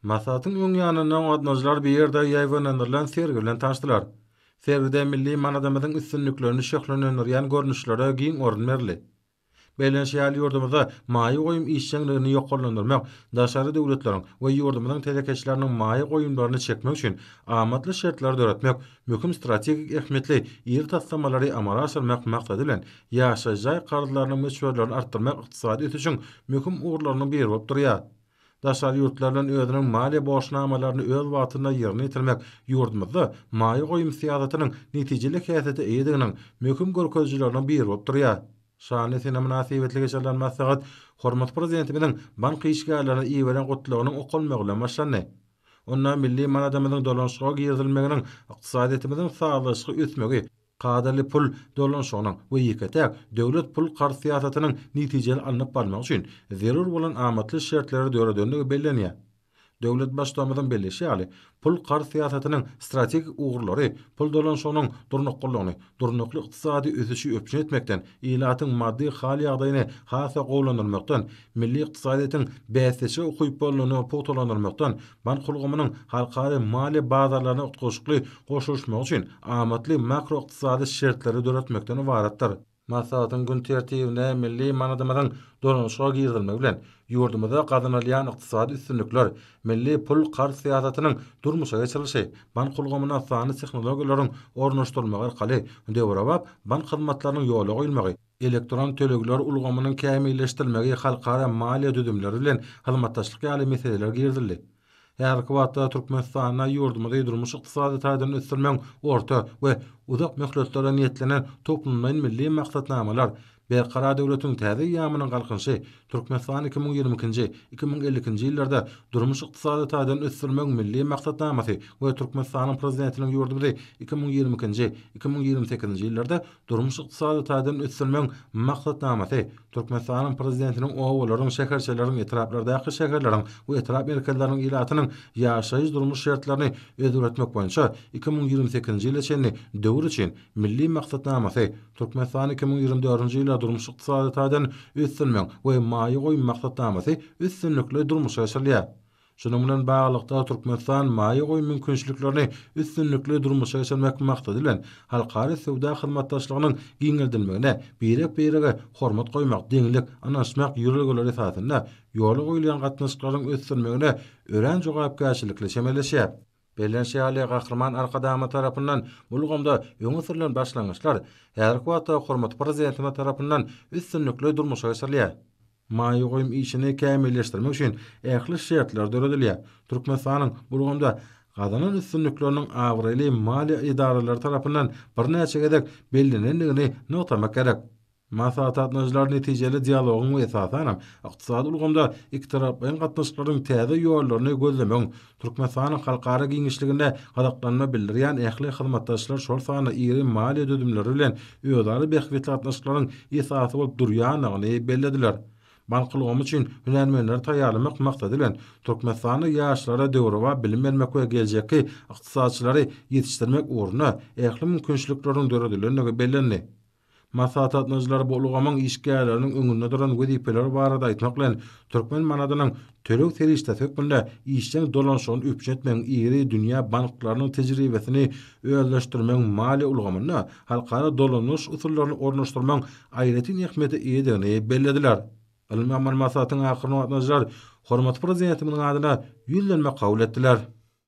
Maslahatyň öň ýanynda gatnadyjylar bir ýerde ýaýbaňlandyrylan sergi bilen tanyşdylar. Sergide milli manadymyzyň üstünliklerini şöhlelendirýän görnüşlere giň orun berildi. Bellenişi ýaly, ýurdumyzda maýa goýum işjeňligini ýokarlandyrmak, daşary döwletleriň we ýurdumyzyň telekeçileriniň maýa goýumlaryny çekmek üçin amatly şertleri döretmek, möhüm strategik ähmiýetli iri taslamalary amala aşyrmak maksady bilen, Ýaşaýyş jaý karzlarynyň möçberlerini artdyrmak ykdysady ösüşiň möhüm ugurlarynyň biri bolup durýar. Daşary ýurtlar bilen özüniň maliýe borçnamalaryny öz wagtynda ýerine ýetirmek ýurdumyzda maýa goýum syýasatynyň netijeli häsiýete eýediginiň möhüm görkezijileriniň biri bolup durýar. Şanly sene mynasybetli geçirilen maslahat hormatly Prezidentimiziň bank işgärlerine iberen Gutlagynyň okalmagy bilen başlandy. Onda milli manadymyzyň dolanyşyga girizilmeginiň ykdysadyýetimiziň sazlaşykly ösmegi, kadaly pul dolanyşygynyň we ýeke-täk döwlet pul-karz syýasatynyň netijeli alnyp barlmagy üçin zerur bolan amatly şertleri döredendigi bellenýär. Döwlet Baştutanymyzyň belleşi ýaly, pul-karz syýasatynyň strategik ugurlary pul dolanyşygynyň durnuklylygyny, durnukly ykdysady ösüşi üpjün etmekden, ilatyň maddy hal-ýagdaýyny has-da gowulandyrmakdan, milli ykdysadyýetiň bäsdeşlige ukyplylygyny pugtalandyrmakdan, Bank ulgamynyň halkara maliýe bazarlaryna utgaşykly goşulyşmagy üçin amatly makroykdysady şertleri döretmekden ybaratdyr. Maslahatyň gün tertibine milli manadymyzyň dolanyşyga girizilmegi bilen, ýurdumyzda gazanylýan ykdysady üstünlikler, milli pul-karz syýasatynyň durmuşa geçirilişi, bank ulgamyna sanly tehnologiýalaryň ornaşdyrylmagy arkaly döwrebap bank hyzmatlarynyň ýola goýulmagy, elektron tölegler ulgamynyň kämilleşdirilmegi, halkara maliýe düzümleri bilen hyzmatdaşlyk ýaly meseleler girizildi. Häzirki wagtda Türkmenistanda ýurdumyzy durmuş-ykdysady taýdan ösdürmegiň orta we uzak möhletlere niýetlenen toplumlaýyn milli maksatnamalar, Berkarar döwletiň täze eýýamynyň Galkynyşy, Türkmenistan iki müň ýigrimi ikinji, iki müň elli ikinji ýyllarda durmuş-ykdysady taýdan ösdürmegiň milli maksatnamasy we Türkmenistanyň Prezidentiniň ýurdumyzy iki müň ýigrimi ikinji, iki müň ýigrimi sekizinji ýyllarda Durmuş-ykdysady taýdan ösdürmegiň maksatnamasy Türkmenistanyň Prezidentiniň obalaryň, şäherçeleriň, etraplardaky şäherleriň we etrap merkezleriniň ilatynyň ýaşaýyş-durmuş şertlerini özgeretmek boýunça iki müň ýigrimi sekizinji ýyla çenli döwür üçin Milli maksatnamasy Türkmenistany iki müň ýigrimi dördünji ýyla durmuş-ykdysady taýdan ösdürmegiň we maýa goýum maksatnamasy üstünlikli durmuşa geçirilýär. Şunuň bilen baglylykda, Türkmenistan maýa goýum mümkinçiliklerini üstünlikli durmuşa geçirmek maksady bilen, halkara söwda hyzmatdaşlygynyň giňeldilmegine birek-birege hormat goýmak, deňlik, ynanyşmak ýörelgeleri esasynda ýola goýulýan gatnaşyklaryň ösdürilmegine örän jogapkärçilikli çemeleşýär. Bellenişi ýaly, Gahryman Arkadagymyz tarapyndan ulgamda öňe sürlen başlangyçlar häzirki wagtda hormatly Prezidentimiz tarapyndan üstünlikli durmuşa geçirilýär. Maýa goýum işini kämilleşdirmek üçin ähli şertler döredilýär. Türkmenistanyň bu ulgamda gazanan üstünlikleriniň abraýly maliýe edaralary tarapyndan birnäçe gezek bellenendigini nygtamak gerek. Maslahatgatnaşyjylar netijeli dialogyň we esasanam ykdysady ulgamda ikitaraplaýyn gatnaşyklaryň täze ýollaryny gözlemegiň Türkmenistanyň halkara giňişliginde gyzyklanma bildirýän ähli hyzmatdaşlar, şol sanda iri maliýe düzümleri bilen özara bähbitli gatnaşyklaryň esasy bolup durýandygyny bellediler. Bank ulgamy üçin hünärmenleri taýýarlamak maksady bilen, Türkmenistanda ýaşlara döwrebap bilim bermek we geljekki ykdysatçylary ýetişdirmek ugrunda ähli mümkinçilikleriň döredilendigi bellendi. Maslahatlatnyjylar bu ulgamyň işgärleriniň öňünde duran wezipeler barada aýtmak bilen, türkmen manadynyň töleg serişdesi hökmünde işjeň dolanyşygyny üpjün etmegiň iri dünýä banklarynyň tejribesini özleşdirmegiň maliýe ulgamynda halkara dolanyş usullaryny ornaşdyrmagyň aýratyn ähmiýete eýedigini bellediler. Ylmy amaly maslahatyň ahyrynda gatnaşyjylar hormatly Prezidentimiziň adyna Ýüzlenme kabul etdiler.